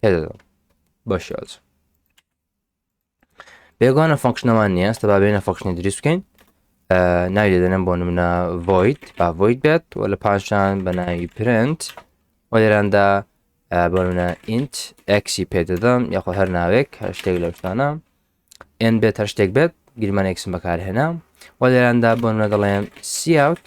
پێدەدەم بە شێوازە بێگوانە فەنکشنەمان نییە ئێستا با بێنە فەکشنی دروست بکەین ناوی دەدەنم بۆ نمونە ڤۆیت با ڤۆیت بێت و لە پاشان بە ناوی پرنت و لێراندا بۆ منە ئینت ئەکسی پێ دەدەم یاخۆ هەر ناوێک هەر شتێک لە شتانە ئێن بێت هەر شتێک بێت گرمان ئەکسم بەکارهێنا و لێراندا بۆ منە دەڵێم سیاوت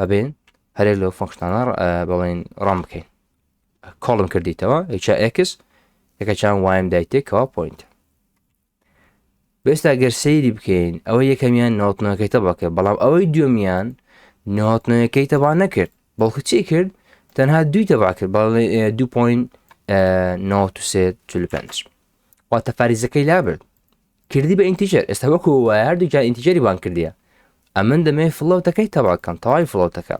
ئەبێن هەرێ لەو فەنکشنانە بڵێن ڕام بکەین کۆڵم کردیتەوە هیچا ئەکس یەکە چیان وایم دایتێکەوە پوینت بێستا گەر سەیری بکەین ئەوە یەکەمیان نۆتنەکەیتە بەکە بەڵام ئەوەی دومیان نۆتنەکەی تەبا نەکرد بەڵکو چی کرد تەنها دوی تەبا کرد بەڵ دو پوین نۆ سێ پێنج واتە فاریزەکەی لابرد کردی بە ئینتیجەر ئێستا وەکو وایە هەردوو جا ئینتیجەری بان کردیە ئەمن دەمێ فڵەوتەکەی تەواکەم تەواوی فڵەوتەکە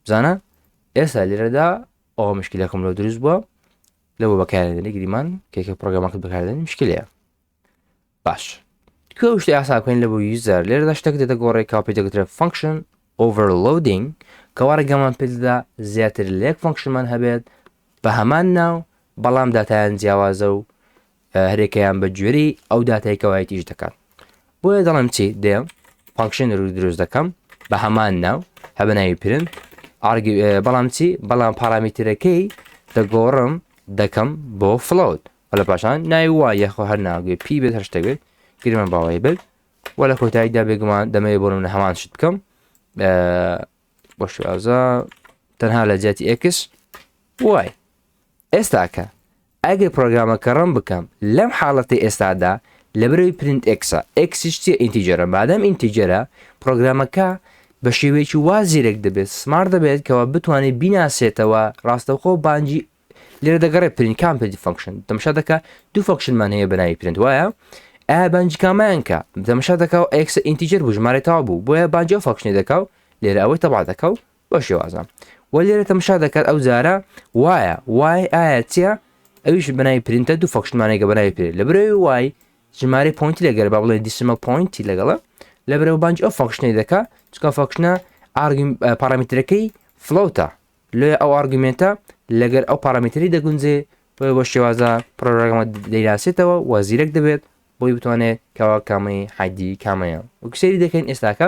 بزانە ئێستا لێرەدا ئەوە مشکلەکەم لەو دروست بووە لەوە بەکارێنی گریمان کێکە پرۆگرامەکە بەکاردێنی مشکلەیە باش کێ شتی ئاساکەین لە بۆ یوزەر لێرەدا شتێک دێتە گۆڕێک کاپی دەگوترێ فەنکشن ئۆڤەرلودینگ کەوا ڕێگەمان پێدا زیاتر لێک فەنکشنمان هەبێت بە هەمان ناو بەڵام داتایان جیاوازە و هەرێکەیان بە گوێرەی ئەو داتای کەوایت ئیش دەکات بۆیە دەڵم چی دێ فانکشن رو دروست دەکەم بە هەمان ناو هەبە ناوی پرن بەڵام چی بەڵام پارامترەکەی دەگۆڕم دەکەم بۆ فلوت و لە پاشان ناوی وای یەخۆ هەر ناگوێ پی بێت هەشتەوێت گرمە باوەی بێت و لە کۆتاییدا بێگومان دەمەوێت بۆ منە هەمان شت بکەم بۆ شوازە تەنها لە جیاتی ئێکس وای ئێستاکە ئەگەر پڕۆگرامەکە ڕەن بکەم لەم حاڵەتەی ئێستادا لەبەرەوەی پرینت ئێکسە، ئێکسیش چیە ئینتیجەرە مادام ئینتیجەرە پڕۆگرامەکە بە شێوەیەکی وا زیرەک دەبێت سمارت دەبێت کەوا بتوانێت بیناسێتەوە ڕاستەوخۆ بانگی لێرە دەگەڕێت پرینت کام پێدی فەنکشن تەمشا دەکا دوو فەنکشنمان هەیە بە ناوی پرینت وایە ئایا بانگی کامایان کە تەمشا دەکا و ئێکسە ئینتیجەر بوو ژمارەی تەوا بوو بۆیە بانگی ئەو فەنکشنی دەکا و لێرە ئەوەی تەبا دەکا و بەو شێوازە وە لێرە تەمشا دەکات ئەو جارە وایە وای ئایا چیە ئەویش بەناوی پرینتە دوو فەخشمانێکە بەناوی پێ لە برەوەی وای ژمارە پۆینتی لەگەر با بڵێ دیسمە پۆینتی لەگەڵە لە برەوە بانج ئەو فەخشنەی دەکا چکە فەخشنە پارامترەکەی فلوتە لێ ئەو ئارگومنتە لەگەر ئەو پارامتری دەگونجێ بۆ بە شێوازە پرۆگرامە دەیناسێتەوە وەزیرەک دەبێت بۆی بتوانێت کەوا کامەی حادی کامەیە وکسری دەکەین ئێستاکە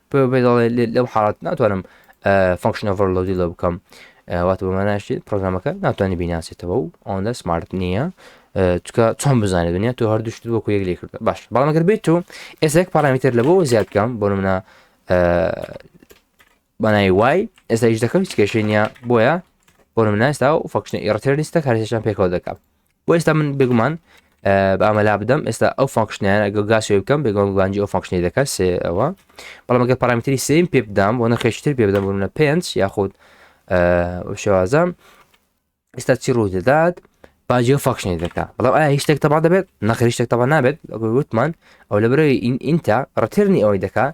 بۆیە بۆ دەڵێ لێ- لەو حاڵەت ناتوانم فەنکشن ئۆڤەرلۆدی لە بکەم ئە، واتە بە ماناشێت پرۆگرامەکە ناتوانانی بیناسێتەوە و ئەوەندە سمارت نییە ئە، چکە چۆن بزانێت دنیا تۆ هەردوو شت وەکو یەک لێ کردە باش بەڵام ئەگەر بێت تۆ ئێسێک پارامتر لە بۆ زیاد بکەم بۆ منە بەنای وای ئێستا هیچ دەکەم هیچ کێشەی نییە بۆیە بۆ مناستا و فەکشنە ئێڕتێر لیستە کارێکیان پێکەوە دەکەم بۆ ئێستا من بێگومان بامەلا بدەم ئێستا ئەو فانکشنیانە گە گاسێ بکەم بێگەم گوانجی ئەو فانکشنی دەکات سێ ئەوە بەڵام گە پارامتری سیم پێ بدام بۆ نەخێشتر پێ بدەم بوونە پێنج یاخود شێوازە ئێستا چی ڕوو دەدات باجی و فاکشنی دەکە بەڵام ئایا هیچ شتێک تەبا دەبێت نەخریشتێک تەبا نابێت وتمان ئەو لە برەوەی ئینتا ڕترنی ئەوەی دەکات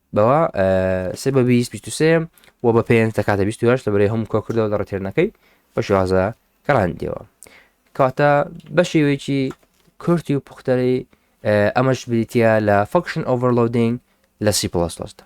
بەوە سێ بە بیست بیست و سێ و بە پێنج دەکاتە بیست هەشت لە بەرەی هەم کۆکردەوە لە ڕێتێرنەکەی بە شێوازە گەڕاندیەوە کاتە بە شێوەیەکی کورتی و پختەری ئەمەش بریتە لە فەکشن ئۆڤەرلودینگ لە سی پلس لەسدا